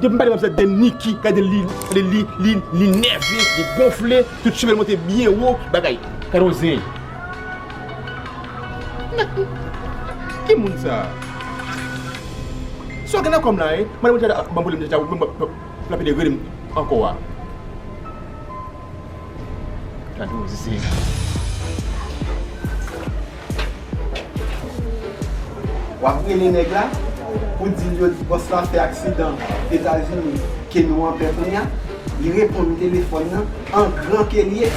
Depi m pale map gade Niki gade li li nève li gonfle tout cheve l monte byen wo bagay gade yon zen Ki moun sa Sa w gen nan kò m la hein Madan Montana ap banm pwoblèm deja wi mwen pral pede rele m ankò a Gade yon zen. Wap rele neg la Pou dil yo di boss la fè aksidan etazini ke nou anpè kounya Li reponn telefòn nan an gran kel ye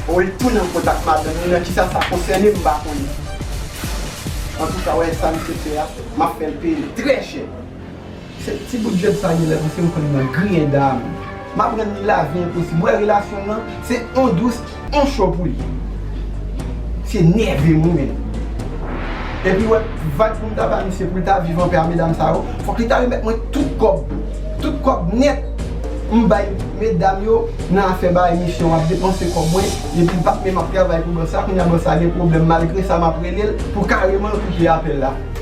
Ou el tounen an kontak madanm li nan kisa sa konsène m pa konnen Antouka wè sa misye fè a map fèl peyel trè chè. Se ti bout jwèt sa li la misye m konn nan griyen dam m aprann li lavi enposib wè relasyon nan se on dous on cho pou li misye nève m wi menn epi wè vag pou m ta ba misye pou l ta viv anpè a medam sa yo fòk li ta remèt mwen tout kòb tout kòb nèt m bay medam yo nan afè bay misyon ap depanse kòb mwen epi l pap menm ap travay pou bòs la kounya bòs la gen pwoblèm malgre sa m ap rele l pou kareman l koupe apèl la.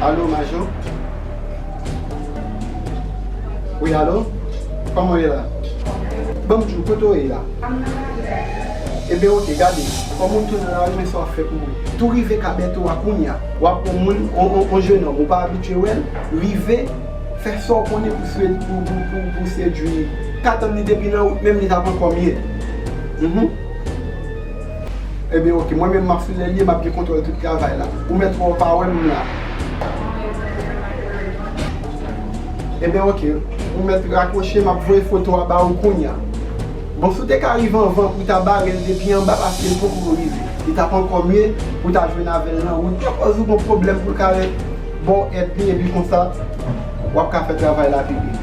Alo majò Wi alo Kòman w ye la Banm di w kote w ye la Ebyen ok gade Kòm ou tounen la ou gen sa w ap fè pou mwen Tou rive ka Bèto a kounya Wap on moun, on jenòm ou pa abitye wèl, rive fè sa w konnen pou pou sedwi li. Ka tann li depi nan wout menm li tap ankò mye. Mph. Ebyen ok, mwen menm map sou lèl li e map gen kontwòl tout travay la. Ou mèt wè w pa wè m m la. Ebyen ok, ou mèt rakwoche map voye foto a ba ou kounya. Bon si w te ka rive anvan pou w ta bare l depi anba paske l poko rive li t ap ankò mye pou w ta jwenn avè l nan wout ke kòz ou gon pwoblèm pou l ka ret ba w èd pi epi konsa w ap ka fè travay la pi byen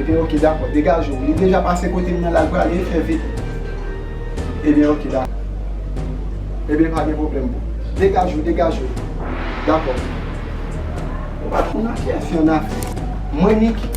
ebyen ok dakò degaje w li deja pase kote m nan la l prale fè vit ebyen ok dakò ebyen pa gen pwoblèm boo degaje w degaje w dakò ou pa t konn akyè fi an afè mwen Niki.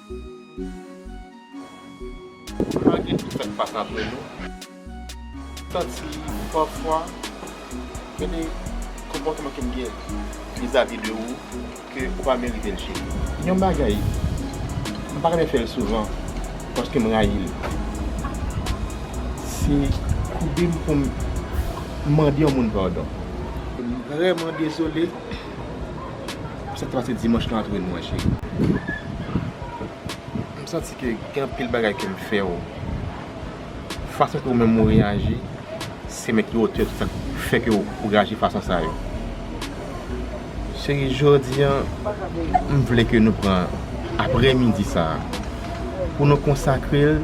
Pa gen ki fèt pa ka plen nou. Santi pafwa gen de konpòtman ke m gen vizavi de ou ke ou pa merite l cheri. Yon bagay m pa renmen fè l souvan paske m rayi l se koube m pou m mande yon moun padon. M vrèman dezole M santi pase dimanch lan ap jwenn mwen cheri M santi ke gen anpil bagay ke m fè w Fason ke ou menm ou reyaji se menm ki otè tout sa k fè ke ou reyaji fason sa yo Cheri jodi an m vle ke nou pran aprè midi sa pou nou konsakre l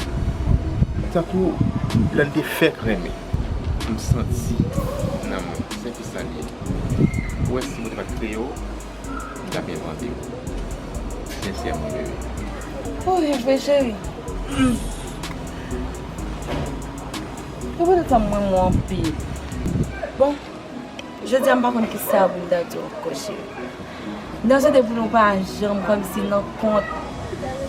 tankou lè n te fèk renmen M santi nan mwen Salye. Ou wè si Bondye pat kreye w li tap envante w sensèman wi bebe. Ou viv vre cheri. Ke Bondye tanm renmen w anpil. Bon Jodi a m pa konn kisa pou m ta di w ankò cheri. Nou swete pou nou pa janm kòmsi nan kont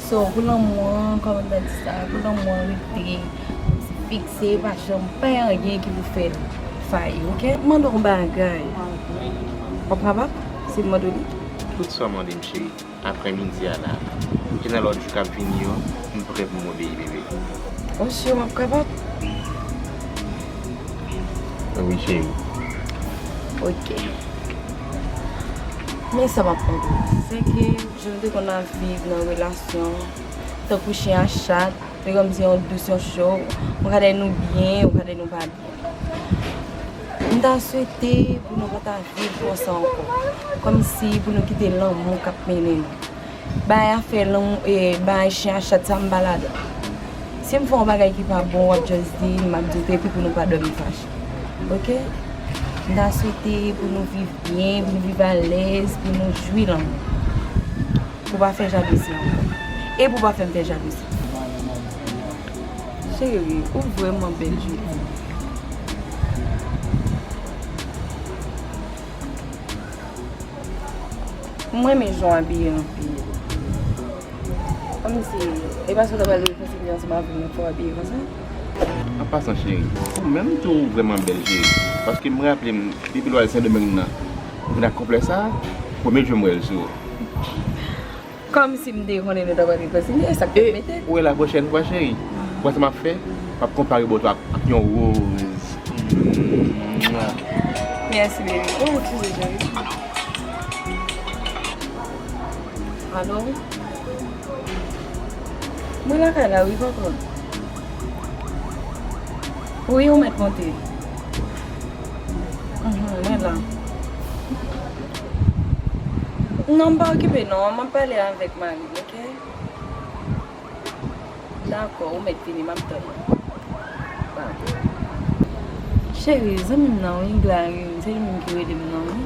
So pou lanmou an kòman mwen di sa pou lanmou an rete kòmsi fikse e pa janm fè anyen ki pou fèl fayi ok. M mande w yon bagay w ap kapab si m mande w li? Tout sa w mande m cheri. Aprè midi a la e nan lòt jou k ap vini yo m prè pou m obeyi bebe. Ou si w ap kapab? Wi cheri. Ok. Men sa map konkli se ke jan nou te konn ap viv nan relasyon tankou chyen a chat se kòm si yon dous yon cho ou ka dèy nou byen ou ka dèy nou pa byen m ta swete pou nou pa ta viv konsa ankò kòm si pou nou kite lanmou kap mennen nou Bay afè lan e bay chien a chat sa m pa ladan. Si m fè yon bagay ki pa bon wap just di m map di w tou epi pou nou pa dòmi fache. Ok? M ta swete pou nou viv byen, pou nou viv alèz, pou nou jwi lanmou. Pou w pa fè jalouzi ankò. E pou w pa fè m fè jalouzi. Cheri, ou vrèman bèl jodi. M renmen jan w abiye anpil. Kòmsi, e paske w ta pral fè figi ansanm avè m fò w abiye konsa? An pasan cheri, ou menm tou ou vrèman bèl cheri. Paske m raple m depi lwa Sendomeng nan, ou vin ak konplè sa a, premye jou m wè l sou ou. Kòmsi m te konnen nou t ap antre kontinye e sa k fè m mete. E ou e la pwochèn fwa cheri. Wè sa m ap fè? M ap konpare bòt ou ak yon roz. Mèsi baby. Ou ekskuze cheri. Alo. Mwen lakay la wi tonton. Wi ou mèt monte. Mwen la. Non m pa okipe non map pale avèk marim ok Dakò ou mèt vini map tann ou Bye Cheri zanmi m nan wi Glarim se li menm ki rele m nan wi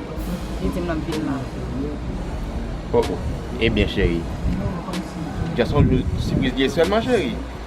li di m lap vin la Oh oh Ebyen cheri Just on jou sipriz liye sèlman cheri.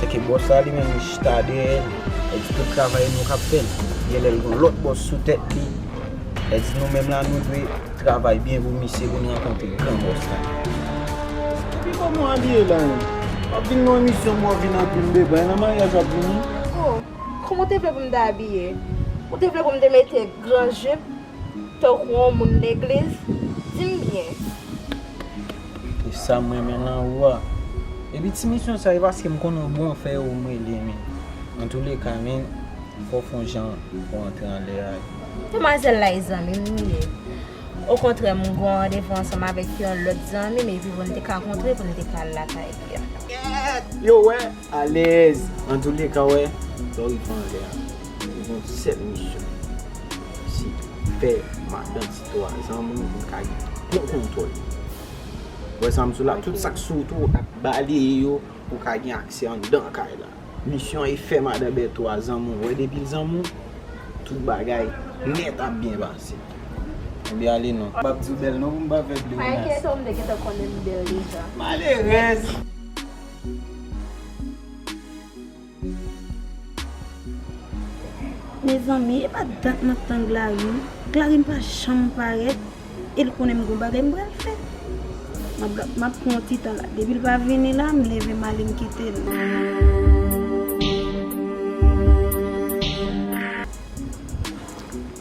Se ke boss la li menm li chita dèyè l, e di tout travay nou kap fè l. Gen lè l gen yon lòt boss sou tèt li, e di nou menm la nou dwe travay byen pou misye pou n rankontre gran boss la. Epi kòman w abiye la menm? Wap vin nan emisyon bro vin anpil bebay nan maryaj wap vini? Oh, kòman w te vle pou m ta abiye? Ou te vle pou m te mete gran jupe? Tankou yon moun legliz, di m byen. E sa m renmen nan ou a. Epi ti misyon sa e paske m konnen ou bon fè yo m rele men. Antoulèka men fò w fon jan pou antre anlè a. Demwazèl la e zanmi m li ye. Okontrè m gon randevou ansanm avèk yon lòt zanmi m epi pou n te ka kontre pou n te ka al lakay li a. Yo wè Alèz! Antoulèka wè Florifan anlè a li gon sèl misyon se fè madan ti 3 zan moun pou l ka gen bon kontwòl li. Wè sa m di w la tout sak sou wout ou ap baleye yo pou w ka gen aksè anndan kay la. Misyon an e fè madan Bèto a zan moun wè depi l zan moun tout bagay nèt ap byen pase. Anbyen ale non. M pap di w bèl non pou m pa fè pleonasm. Malerèz! Mezanmi epa dat map tann Glarin, Glarin pa janm parèt el konnen m gon bagay m pral fè map pran yon ti tan la depil pa vini la m leve m ale m kitel.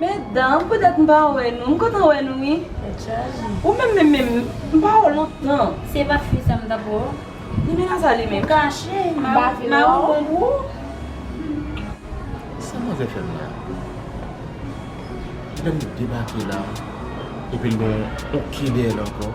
Medanm pou dat m pa wè nou m kontan wè nou wi ou menm menm menm m pa wè w lontan. Se pa fi sa m tap wè w. Limena sa li menm. Ou kache mari w bon pou ou. Sa manzè fè m la. Tibèm debake la epi l gen yon kid dèyè l ankò.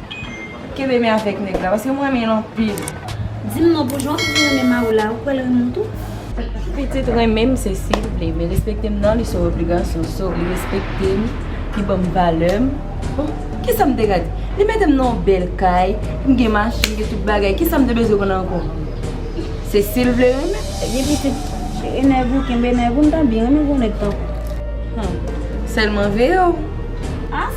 Kenbe men avèk nèg la paske m renmen l anpil. Di m non pou jan w toujou renmen mari w la, ou kwè l renmen w tou? Pitit renmen m se si l vle, men respekte m nan li se yon obligasyon. So li respekte m, li ban m valè m. Bon, kisa m te ka di? Li mete m nan yon bèl kay, m gen machin, m gen tout bagay, kisa m te bezwen konn ankò? Se si l vle renmen m. Ebyen pitit, jere nèg ou, kenbe nèg ou, m ta byen renmen gwo nèg tankou w. Sèlman veye w. A?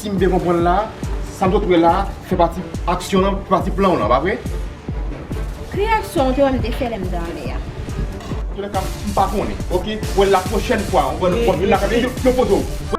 Si m byen konprann la, sa nou sot wè la a fè pati aksyon lan, fè pati plan w lan, pa vre? Ki aksyon ou te wè m te fè lè m te anlè a? Antoulekamp, m pa konnen, ok? Wè, lapwochèn fwa, wè, nou pwòp vin la kay mwen, yo poze w.